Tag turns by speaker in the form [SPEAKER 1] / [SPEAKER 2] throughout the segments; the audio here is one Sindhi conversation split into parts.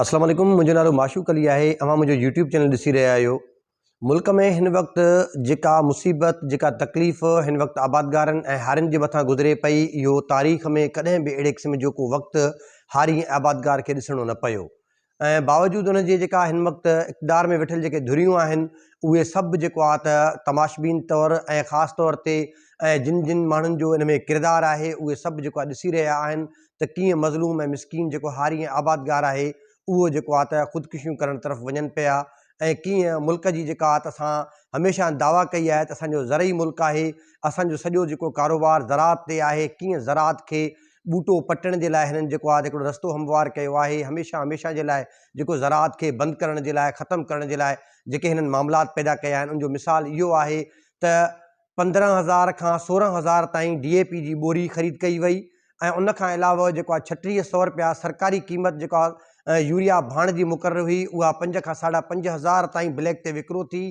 [SPEAKER 1] اسلام عليڪم منهنجو نالو معشوق علي آهي اوهان منهنجو يوٽيوب چينل ڏسي رهيا آهيو ملڪ ۾ هن وقت جيڪا مصيبت جيڪا تڪليف هن وقت آبادگارن ۽ هارين جي مٿان گذري پئي اهو تاريخ ۾ ڪڏهن به اهڙي قسم جو ڪو وقت هاري ۽ آبادگار کي ڏسڻو نه پيو ۽ باوجود ان جي جيڪا هن وقت اقتدار ۾ ويٺل جيڪي ڌريون آهن اهي سڀ جيڪو آهي ته تماشبين طور ۽ خاص طور تي ۽ جن جن ماڻهن جو ان ۾ ڪردار آهي اهي سڀ جيڪو آهي ڏسي رهيا آهن ته ڪيئن مظلوم ۽ مسڪين جيڪو هاري ۽ آبادگار آهي اهو جيڪو آ ته خودڪشيون ڪرڻ طرف وڃن پيا ۽ ڪيئن ملڪ جي جيڪا آ ته اسان هميشه دعويٰ ڪئي آهي ته اسان جو زرعي ملڪ آهي اسان جو سڄو جيڪو ڪاروبار زراعت تي آهي ڪيئن زراعت کي ٻوٽو پٽڻ جي لاء هنن جيڪو آ ته هڪڙو رستو هموار ڪيو آهي هميشه هميشه جي لاء جيڪو زراعت کي بند ڪرڻ جي لاء ختم ڪرڻ جي لاء جيڪي هنن معاملات پيدا ڪيا آهن ان جو مثال اهو آهي ته پندرهن هزار کان سورهن هزار تائين ڊي اي پي جي ٻوري خريد ڪئي وئي ۽ ان کان علاوه جيڪو آهي ڇٽيهه سئو رپيا سرڪاري قيمت جيڪو آهي يوريا ڀاڻ جي مقرر هئي اها پنج کان ساڍا پنج هزار تائين بليڪ تي وڪرو ٿي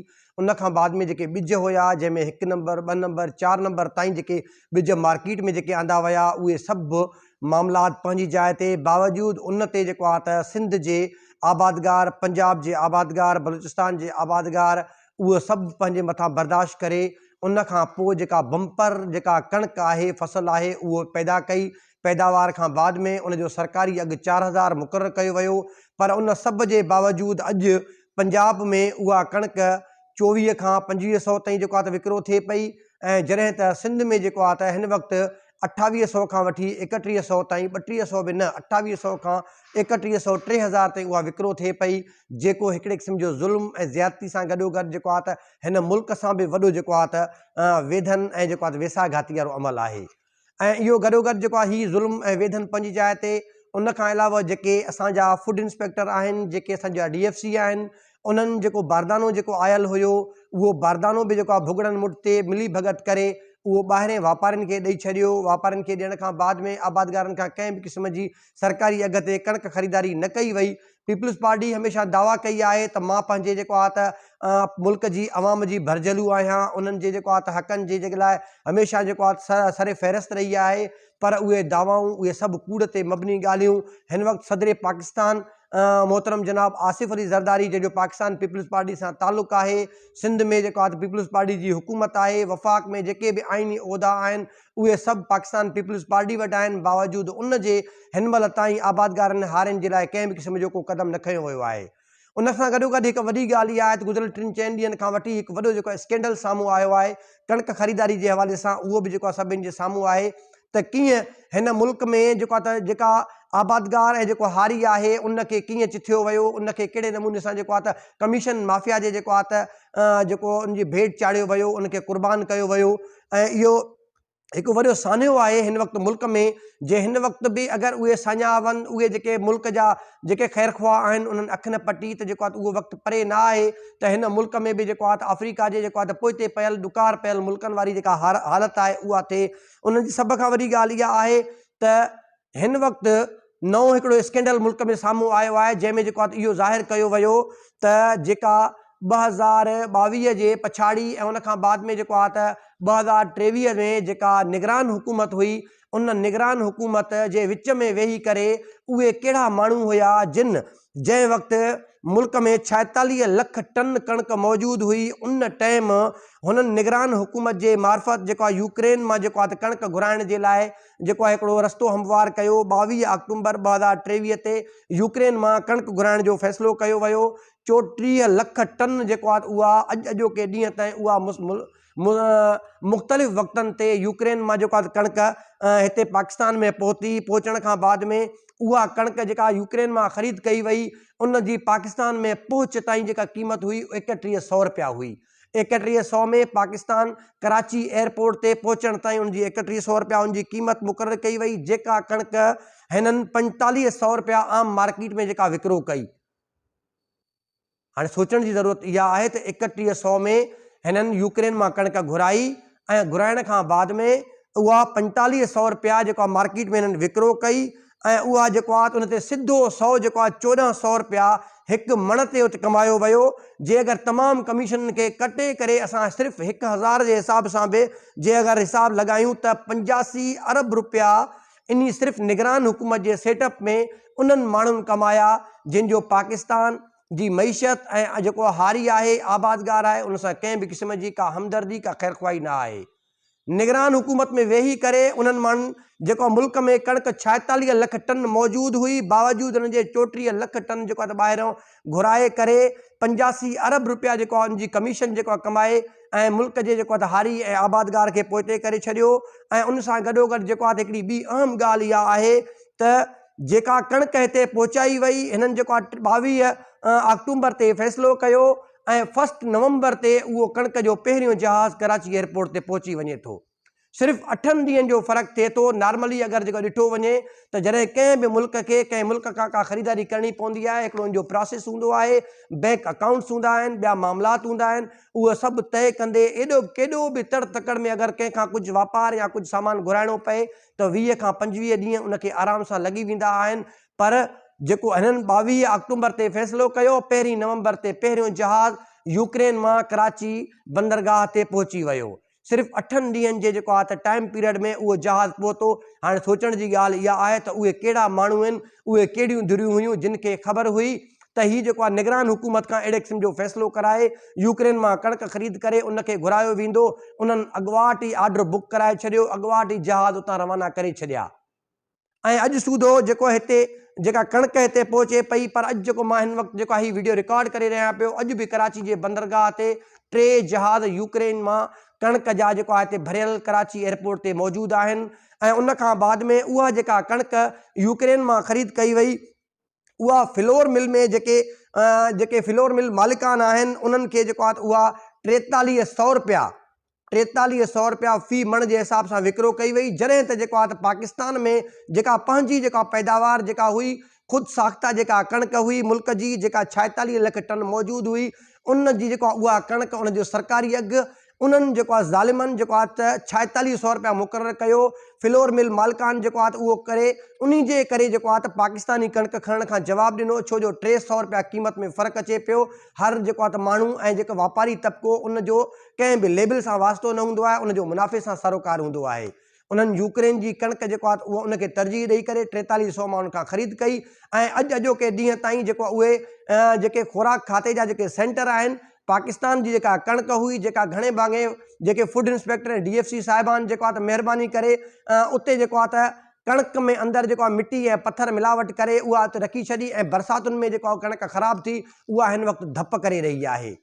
[SPEAKER 1] ان کان بعد ۾ جيڪي ٻج هيا جنهن ۾ هڪ نمبر ٻه نمبر چار نمبر تائين جيڪي ٻج مارڪيٽ ۾ جيڪي آندا ويا اهي سڀ معاملات پنهنجي جاء تي باوجود ان تي جيڪو آهي ته سنڌ جي آبادگار پنجاب جي آبادگار بلوچستان جي آبادگار اهو سڀ پنهنجي مٿان برداشت ڪري ان کان پوء جيڪا بمپر جيڪا ڪڻڪ آهي فصل آهي اهو پيدا ڪئي پيداوار کان بعد ۾ ان جو سرڪاري اگهه چار هزار مقرر ڪيو ويو پر ان سڀ جي باوجود اڄ پنجاب ۾ اها ڪڻڪ چوويهه کان پنجويهه سئو تائين جيڪو آهي ته وڪرو ٿئي پئي ۽ جڏهن ته سنڌ ۾ جيڪو آهي ته هن وقت اٺاويهه سئو کان وٺي ايڪٽيهه سئو تائين، ٻٽيهه سئو به نه، اٺاويهه سئو کان ايڪٽيهه سئو، ٽي هزار تائين اها وڪرو ٿئي پئي، جيڪو هڪڙي قسم جو ظلم ۽ زيادتي سان گڏوگڏ جيڪو آهي ته هن ملڪ سان به وڏو جيڪو آهي ته ويڌن ۽ جيڪو آهي ته ويساهگهاتي وارو عمل آهي ۽ اهو گڏوگڏ جيڪو آهي هي ظلم ۽ ويڌن پنهنجي جاء تي ان کان علاوه جيڪي اسان جا فوڊ انسپيڪٽر آهن، جيڪي اسان جا ڊي ايف سي آهن، انهن جيڪو باردانو جيڪو آيل هيو، اهو باردانو به جيڪو آ ڀڳڙن مٺ تي ملي ڀڳت ڪري اهو ٻاهرين واپارين کي ڏئي ڇڏيو. واپارين کي ڏيڻ کان بعد ۾ آبادگارن کان ڪنهن به قسم جي سرڪاري اگهه تي ڪڻڪ خريداري نه ڪئي وئي. پيپلز پارٽي هميشه دعويٰ ڪئي آهي ته مان پنهنجي جيڪو آ ته ملڪ جي عوام جي ڀرجهلو آهيان، انهن جي جيڪو آ ته حقن جي جيڪي لاء هميشه جيڪو آ ته سر فهرست رهي آهي. پر اهي دعوائون، اهي سڀ ڪوڙ تي مبني ڳالهيون هن وقت صدر پاڪستان محترم جناب آصف علي زرداري جنهن جو پاڪستان پيپلز پارٽي سان تعلق آهي، سنڌ ۾ جيڪا ته پيپلز پارٽي جي حڪومت آهي، وفاق ۾ جيڪي به آئيني عهدا آهن اهي سڀ پاڪستان پيپلز پارٽي وٽ آهن، باوجود ان جي هن مهل تائين آبادگارن ۽ هارين جي لاء ڪنهن به قسم جو ڪو قدم نه کنيو ويو آهي. ان سان گڏوگڏ هڪ وڏي ڳالهه اها آهي ته گذريل ٽن چئن ڏينهن کان وٺي هڪ وڏو جيڪو اسڪينڊل سامهون آيو آهي ڪڻڪ خريداري جي حوالي سان اهو به جيڪو آهي سڀني جي سامهون آهي ته ڪيئن هن ملڪ ۾ جيڪو آهي ته جيڪا آبادگار ۽ جيڪو هاري آهي ان کي ڪيئن چٿيو ويو ان کي ڪهڙي نموني سان جيڪو آهي ته ڪميشن مافيا جي جيڪو آهي ته جيڪو ان جي ڀيٽ چاڙهيو ويو ان کي قربان ڪيو ويو ۽ اهو هڪ وڏو سانحو آهي هن وقت ملڪ ۾ جي هن وقت به اگر اهي ساڃاها وڃن اهي جيڪي ملڪ جا جيڪي خير خواهه آهن انهن اک نه پٽي ته جيڪو آهي اهو وقت پري نه آهي ته هن ملڪ ۾ به جيڪو آهي ته آفريڪا جي جيڪو آهي ته پوئتي پيل ڏڪار پيل ملڪن واري جيڪا حالت آهي اها ٿئي انهن جي سڀ کان وڏي ڳالهه اها آهي ته هن وقت نئون هڪڙو اسڪينڊل ملڪ ۾ سامهون آيو آهي جنهن ۾ جيڪو آهي اهو ظاهر ڪيو ويو ته جيڪا ٻه هزار ٻاويهه جي پڇاڙي ۽ ان کان بعد ۾ جيڪو آهي ته ٻه هزار ٽيويهه ۾ جيڪا نگران حڪومت هئي ان نگران حڪومت جي وچ ۾ ويهي ڪري اهي ڪهڙا ماڻهو هيا جن جنهن وقت ملڪ ۾ ڇائيتاليهه لک ٽن ڪڻڪ موجود هئي ان ٽئم هنن نگران حڪومت جي معرفت جيڪو آهي يوڪرين مان جيڪو آهي ته ڪڻڪ گهرائڻ جي لاء جيڪو آهي هڪڙو رستو هموار ڪيو، ٻاويهه آڪٽومبر ٻه هزار ٽيويهه تي يوڪرين مان ڪڻڪ گهرائڻ جو فيصلو ڪيو ويو، چوٽيهه لک ٽن جيڪو آهي اها اڄ اڄوڪي ڏينهن تائين اها مختلف وقتن تي يوڪرين مان جيڪو آهي ڪڻڪ هتي پاڪستان ۾ پهتي، پهچڻ کان بعد ۾ اها ڪڻڪ جيڪا يوڪرين مان خريد ڪئي وئي ان جي پاڪستان ۾ پهچ تائين جيڪا قيمت هئي ايڪٽيهه سئو رپيا هئي، ايڪٽيهه سؤ ۾ پاڪستان ڪراچي ايئرپورٽ تي پهچڻ تائين ان جي ايڪٽيهه سؤ رپيا ان جي قيمت مقرر ڪئي وئي جيڪا ڪڻڪ هنن پنجيتاليهه سؤ رپيا عام مارڪيٽ ۾ جيڪا وڪرو ڪئي هاڻي سوچڻ جي ضرورت اها آهي ته ايڪٽيهه سؤ ۾ هنن يوڪرين مان ڪڻڪ گهرائي ۽ گهرائڻ کان بعد ۾ اها پنجيتاليهه سؤ رپيا جيڪا مارڪيٽ ۾ هنن وڪرو ڪئي ۽ اها جيڪو آت ان تي سڌو سئو جيڪو آت چوڏهن سئو رپيا هڪ مڻ تي ات ڪمايو ويو جي اگر تمام ڪميشنن کي ڪٽي ڪري اسان صرف هڪ هزار جي حساب سان به جي اگر حساب لڳايون ته پنجاسي ارب رپيا انهي صرف نگران حڪومت جي سيٽ اپ ۾ انهن ماڻهن ڪمايا جن جو پاڪستان جي معيشت ۽ جيڪو هاري آهي آبادگار آهي ان سان ڪنهن به قسم جي ڪا همدردي ڪا خيرخواهي نه آهي. نگران حڪومت ۾ ويهي ڪري انهن مان جيڪو ملڪ ۾ ڪڻڪ ڇائيتاليهه لک ٽن موجود هئي باوجود ان جي چوٽيهه لک ٽن جيڪو ته ٻاهريون گهرائي ڪري پنجاسي ارب روپيا جيڪو ان جي ڪميشن جيڪو ڪمائي ۽ ملڪ جي جيڪو ته هاري ۽ آبادگار کي پوئتي ڪري ڇڏيو ۽ ان سان گڏوگڏ جيڪو ته هڪڙي ٻي اهم ڳالهه اها آهي ته جيڪا ڪڻڪ هتي پهچائي وئي هنن جيڪو ٻاويهه آڪٽومبر تي فيصلو ڪيو ۽ فسٽ نومبر تي اهو ڪڻڪ جو پهريون جهاز ڪراچي ايئرپورٽ تي پهچي وڃي ٿو. صرف اٺن ڏينهن جو فرق ٿئي ٿو. نارملي اگر جيڪو ڏٺو وڃي ته جڏهن ڪنهن به ملڪ کي ڪنهن ملڪ کان ڪا خريداري ڪرڻي پوندي آهي هڪڙو ان جو پراسيس هوندو آهي، بينڪ اڪائونٽس هوندا آهن، ٻيا معاملات هوندا آهن، اهو سڀ طئي ڪندي ايڏو ڪيڏو به تڙ تڪڙ ۾ اگر ڪنهن کان ڪجهه واپار يا ڪجهه سامان گهرائڻو پئي ته ويهه کان پنجويهه ڏينهن ان کي آرام سان لڳي ويندا آهن پر جيڪو هنن ٻاويهه آڪٽومبر تي فيصلو ڪيو، پهرين نومبر تي پهريون جهاز يوڪرين مان ڪراچي بندرگاهه تي پهچي ويو. صرف اٺن ڏينهن جي جيڪو آهي ته ٽائيم پيريڊ ۾ اهو جهاز پهتو. هاڻي سوچڻ جي ڳالهه اها آهي ته اهي ڪهڙا ماڻهو هن، اهي ڪهڙيون ڌريون هيون جن کي خبر هئي ته هي جيڪو آهي نگران حڪومت کان اهڙي قسم جو فيصلو ڪرائي يوڪرين مان ڪڻڪ خريد ڪري ان کي گهرايو ويندو، انهن اڳواٽ ئي آرڊر بڪ ڪرائي ڇڏيو، اڳواٽ ئي جهاز اتان روانا ڪري ڇڏيا. ۽ اڄ سوڌو جيڪو هتي جيڪا ڪڻڪ هتي پهچي پئي پر اڄ جيڪو مان هن وقت جيڪو هي وڊيو رڪارڊ ڪري رهيان پيو اڄ به ڪراچي جي بندرگاهه تي ٽي جهاز يوڪرين مان ڪڻڪ جا جيڪو آهي هتي ڀريل ڪراچي ايئرپورٽ تي موجود آهن ۽ ان کان بعد ۾ اها جيڪا ڪڻڪ يوڪرين مان خريد ڪئي وئي اها فلور مل ۾ جيڪي جيڪي فلور مل مالڪان آهن انهن کي جيڪو آهي اها ٽيتاليهه سؤ روپيا ٽيتاليهه سؤ روپيا في مڻ جي حساب سان وڪرو ڪئي وئي جڏهن ته جيڪو آهي پاڪستان ۾ جيڪا پنهنجي جيڪا پيداوار جيڪا هئي خود ساخته جيڪا ڪڻڪ هئي ملڪ جي جيڪا ڇائيتاليهه لک ٽن موجود هئي ان جي جيڪو اها ڪڻڪ ان جو سرڪاري اگهه انهن جيڪو آهي ظالمن جيڪو آهي ته ڇائيتاليهه سئو روپيا مقرر ڪيو فلور مل مالڪان جيڪو آهي ته اهو ڪري انهي جي ڪري جيڪو آهي ته پاڪستاني ڪڻڪ کڻڻ کان جواب ڏنو ڇو جو ٽي سئو روپيا قيمت ۾ فرق اچي پيو هر جيڪو آهي ته ماڻهو ۽ جيڪو واپاري طبقو ان جو ڪنهن به ليبل سان واسطو نه هوندو آهي ان جو منافعي سان سروڪار هوندو آهي انهن يوڪرين جي ڪڻڪ جيڪو آهي ته اهو ان کي ترجيح ڏئي ڪري ٽيتاليهه سئو ماڻهن کان خريد ڪئي ۽ اڄ اڄوڪي ڏينهن تائين جيڪو آهي اهي جيڪي خوراڪ کاتي جا جيڪي سينٽر آهن پاڪستان جي جيڪا ڪڻڪ هئي جيڪا گهڻي ڀاڱي جيڪي food inspector ۽ D F C صاحبان جيڪو آهي ته مهرباني ڪري اتي جيڪو آهي ته ڪڻڪ ۾ اندر جيڪو آهي مٽي ۽ پٿر ملاوٽ ڪري اها اتي رکي ڇڏي ۽ برساتن ۾ جيڪو آهي ڪڻڪ خراب ٿي اها هن وقت ڌپ ڪري رهي آهي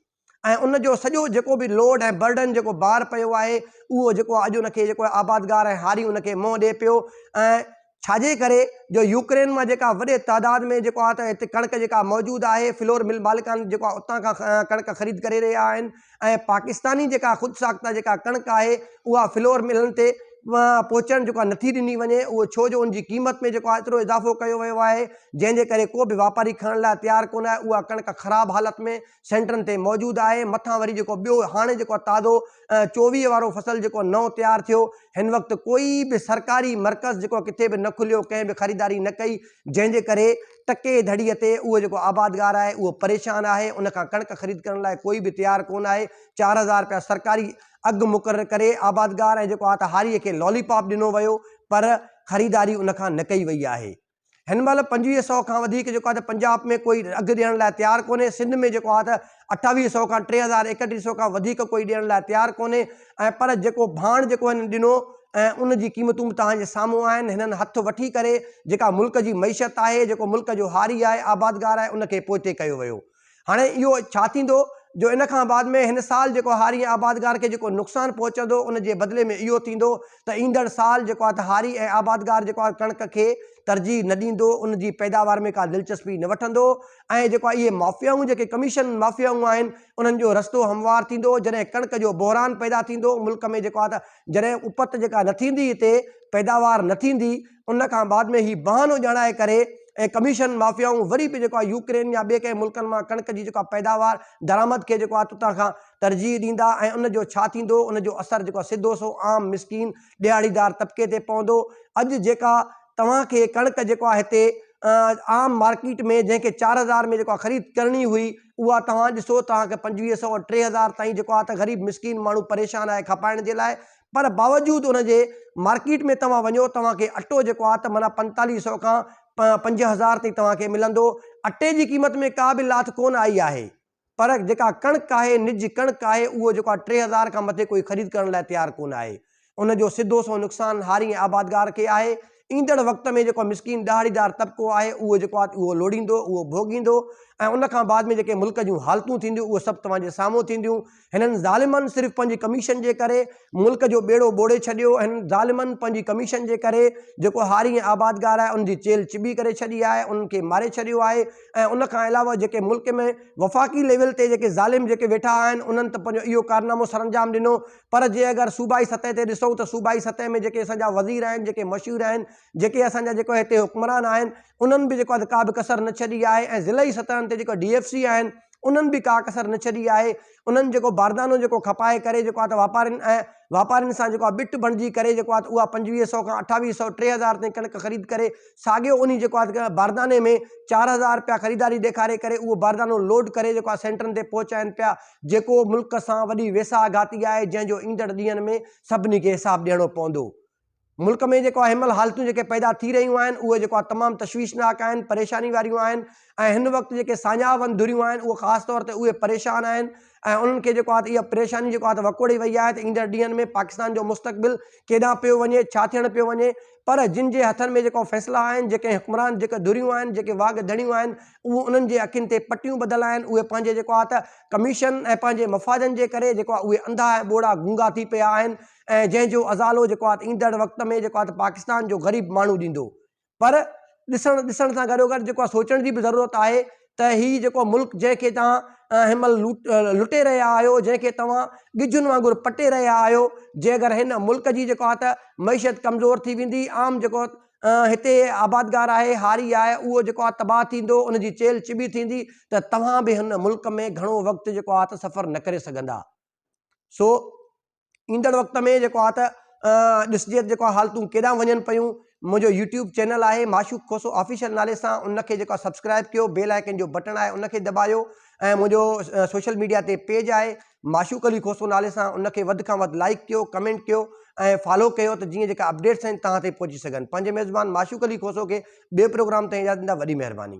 [SPEAKER 1] ۽ ان جو سڄو جيڪو به لوڊ ۽ برڊن جيڪو بار پيو آهي اهو جيڪو اڄ ان کي جيڪو آبادگار ۽ هاري ان کي منهن ڏئي پيو ۽ ڇاجي ڪري جو يوڪرين مان جيڪا وڏي تعداد ۾ جيڪو آهي ته هتي ڪڻڪ جيڪا موجود آهي فلور مل مالڪان جيڪو آهي اتان کان ڪڻڪ خريد ڪري رهيا آهن ۽ پاڪستاني جيڪا خود ساخته جيڪا ڪڻڪ آهي اها فلور ملن تي پهچڻ جيڪو آهي نٿي ڏني وڃي اهو ڇو جو ان جي قيمت ۾ جيڪو آهي ايترو اضافو ڪيو ويو آهي جنهن جي ڪري ڪو به واپاري کڻڻ لاء تيار ڪونه آهي اها ڪڻڪ خراب حالت ۾ سينٽرن تي موجود آهي، مٿان وري جيڪو ٻيو هاڻي جيڪو تازو چوويهه وارو فصل جيڪو نئون تيار ٿيو، هن وقت ڪوئي به سرڪاري مرڪز جيڪو ڪٿي به نه کليو، ڪنهن به خريداري نه ڪئي، جنهن جي ڪري ٽڪي ڌڙي تي اهو جيڪو آبادگار آهي اهو پريشان آهي، ان کان ڪڻڪ خريد ڪرڻ لاء ڪوئي به تيار ڪونه آهي، چار هزار رپيا سرڪاري اگهه مقرر ڪري آبادگار ۽ جيڪو آ ته هاري کي لالي پاپ ڏنو ويو پر خريداري ان کان نه ڪئي وئي آهي. هن مهل پنجويهه سئو کان وڌيڪ جيڪو آهي ته پنجاب ۾ ڪوئي اگهه ڏيڻ لاء تيار ڪونهي، سنڌ ۾ جيڪو آهي ته اٺاويهه سئو کان ٽي هزار ايڪٽيهه سئو کان وڌيڪ ڪوئي ڏيڻ لاء تيار ڪونهي ۽ پر جيڪو ڀاڻ جيڪو هنن ڏنو ۽ ان جي قيمتون به توهان جي سامهون آهن، هنن هٿ وٺي ڪري جيڪا ملڪ جي معيشت آهي، جيڪو ملڪ جو هاري آهي، آبادگار آهي، ان کي پوئتي ڪيو ويو. هاڻي اهو ڇا ٿيندو جو ان کان بعد ۾ هن سال جيڪو هاري ۽ آبادگار کي جيڪو نقصان پهچندو ان جي بدلي ۾ اهو ٿيندو ته ايندڙ سال جيڪو آهي ته هاري ۽ آبادگار جيڪو آهي ڪڻڪ کي ترجيح نه ڏيندو ان جي پيداوار ۾ ڪا دلچسپي نه وٺندو ۽ جيڪو آهي اهي مافيائون جيڪي ڪميشن مافيائون آهن انهن جو رستو هموار ٿيندو جڏهن ڪڻڪ جو بحران پيدا ٿيندو ملڪ ۾ جيڪو آهي ته جڏهن اپت جيڪا نه ٿيندي هتي پيداوار نه ٿيندي ان کان بعد ۾ هي بهانو ڄاڻائي ڪري ۽ ڪميشن مافيائون وري به جيڪو آهي يوڪرين يا ٻئي ڪنهن ملڪن مان ڪڻڪ جي جيڪو آهي پيداوار درآمد کي جيڪو آهي تتان کان ترجيح ڏيندا ۽ ان جو ڇا ٿيندو ان جو اثر جيڪو آهي سڌو سو عام مسڪين ڏهاڙيدار طبقي تي پوندو اڄ جيڪا توهان کي ڪڻڪ جيڪو آهي هتي عام مارڪيٽ ۾ جنهن کي چار هزار ۾ جيڪو آهي خريد ڪرڻي هئي اها توهان ڏسو توهان کي پنجويهه سئو ٽي هزار تائين جيڪو آهي ته غريب مسڪين ماڻهو پريشان آهي کپائڻ جي لاء پر باوجود ان جي مارڪيٽ ۾ توهان وڃو توهان کي اٽو جيڪو آهي ته معنيٰ پنجتاليهه سئو کان پنج هزار تائين توهان کي ملندو. اٽي جي قيمت ۾ ڪا به لاٿ ڪونه آئي آهي پر جيڪا ڪڻڪ آهي، نج ڪڻڪ آهي، اهو جيڪو آهي ٽي هزار کان مٿي ڪوئي خريد ڪرڻ لاء تيار ڪونه آهي. ان جو سڌو سنئون نقصان هاري ۽ آبادگار کي آهي. ايندڙ وقت ۾ جيڪو مسڪين ڏهاڙيدار طبقو آهي اهو جيڪو آهي اهو لوڙيندو، اهو ڀوڳيندو ۽ ان کان بعد ۾ جيڪي ملڪ جون حالتون ٿينديون اهي سڀ توهان جي سامهون ٿينديون. هنن ظالمن صرف پنهنجي ڪميشن جي ڪري ملڪ جو ٻيڙو ٻوڙي ڇڏيو، هنن ظالمن پنهنجي ڪميشن جي ڪري جيڪو هاري ۽ آبادگار آهي ان جي چيلهه چٻي ڪري ڇڏي آهي، انهن کي ماري ڇڏيو آهي ۽ ان کان علاوه جيڪي ملڪ ۾ وفاقي ليول تي جيڪي ظالم جيڪي ويٺا آهن انهن ته پنهنجو اهو ڪارنامو سرانجام ڏنو پر جي اگر صوبائي سطح تي ڏسون ته صوبائي سطح ۾ جيڪي اسان جا وزير آهن جيڪي مشهور آهن جيڪي اسان جا جيڪو هتي حڪمران آهن انهن به جيڪو آهي ڪا به ڪسر نه ڇڏي آهي ۽ ضلعي سطحن تي جيڪو ڊي ايف سي آهن انهن به ڪا ڪسر نه ڇڏي آهي، انهن جيڪو باردانو جيڪو کپائي ڪري جيڪو آهي ته واپارين ۽ واپارين سان جيڪو آهي بٽ بڻجي ڪري جيڪو آهي ته اها پنجويهه سئو کان اٺاويهه سئو ٽي هزار تائين ڪڻڪ خريد ڪري ساڳيو انهي جيڪو آهي ته بارداني ۾ چار هزار رپيا خريداري ڏيکاري ڪري اهو باردانو لوڊ ڪري جيڪو آهي سينٽرن تي پهچائين پيا جيڪو ملڪ سان وڏي ويساهه گهاتي آهي جنهن جو ايندڙ ڏينهن ۾ سڀني کي حساب ڏيڻو پوندو. ملڪ ۾ جيڪو اهي مل حالتون جيڪي پيدا ٿي رهيون آهن اهي جيڪو آهي تمام تشويشناڪ آهن پريشاني واريون آهن ۽ هن وقت جيڪي ساڃاهه وند ڌريون آهن اهي خاص طور تي اهي پريشان آهن ۽ انهن کي جيڪو آهي اها پريشاني جيڪو آهي وڪوڙي وئي آهي ته ايندڙ ڏينهن ۾ پاڪستان جو مستقبل ڪيڏانهن پيو وڃي ڇا ٿيڻ پيو وڃي پر جن جي هٿن ۾ جيڪو فيصلا آهن جيڪي حڪمران جيڪي ڌريون آهن جيڪي واڳ ڌڻيون آهن اهي انهن جي اکين تي پٽيون ٻڌل آهن اهي پنهنجي جيڪو آهي ته ڪميشن ۽ پنهنجي مفادن جي ڪري جيڪو آهي اهي انڌا ۽ ٻوڙا گونگا ٿي پيا آهن ۽ جنهن جو ازالو جيڪو آهي ته ايندڙ وقت ۾ جيڪو آهي ته پاڪستان جو غريب ماڻهو ڏيندو پر ڏسڻ ڏسڻ سان گڏو گڏ جيڪو آهي سوچڻ جي به ضرورت آهي ته هي جيڪو ملڪ جنهن کي تان هن مهل لٽي رهيا آهيو جنهن کي توهان ڳجهن وانگر پٽي رهيا آهيو جي اگر هن ملڪ جي جيڪو آهي ته معيشت ڪمزور ٿي ويندي عام جيڪو هتي آبادگار آهي هاري آهي اهو جيڪو آهي تباهه ٿيندو ان جي چيل چٻي ٿيندي ته توهان به هن ملڪ ۾ گهڻو وقت جيڪو آهي ته سفر نه ڪري سگهندا سو ايندڙ وقت ۾ جيڪو آ ته ڏسجي ته جيڪو حالتون ڪيڏانهن وڃن پيون منهنجو يوٽيوب چينل آهي معشوق کوسو آفيشل نالي سان ان کي جيڪو آهي سبسڪرائب ڪيو بيل آئيڪن جو بٽڻ آهي ان کي دٻايو ۽ منهنجو سوشل ميڊيا تي پيج آهي معشوق علي کوسو نالي سان ان کي وڌ کان وڌ لائڪ ڪيو ڪمينٽ ڪيو ۽ فالو ڪيو ته جيئن جيڪا اپڊيٽس آهن تهان تائين پهچي سگهن پنهنجي ميزبان معشوق علي کوسو کي ٻئي پروگرام تائين اجازت ڏيندا وڏي مهرباني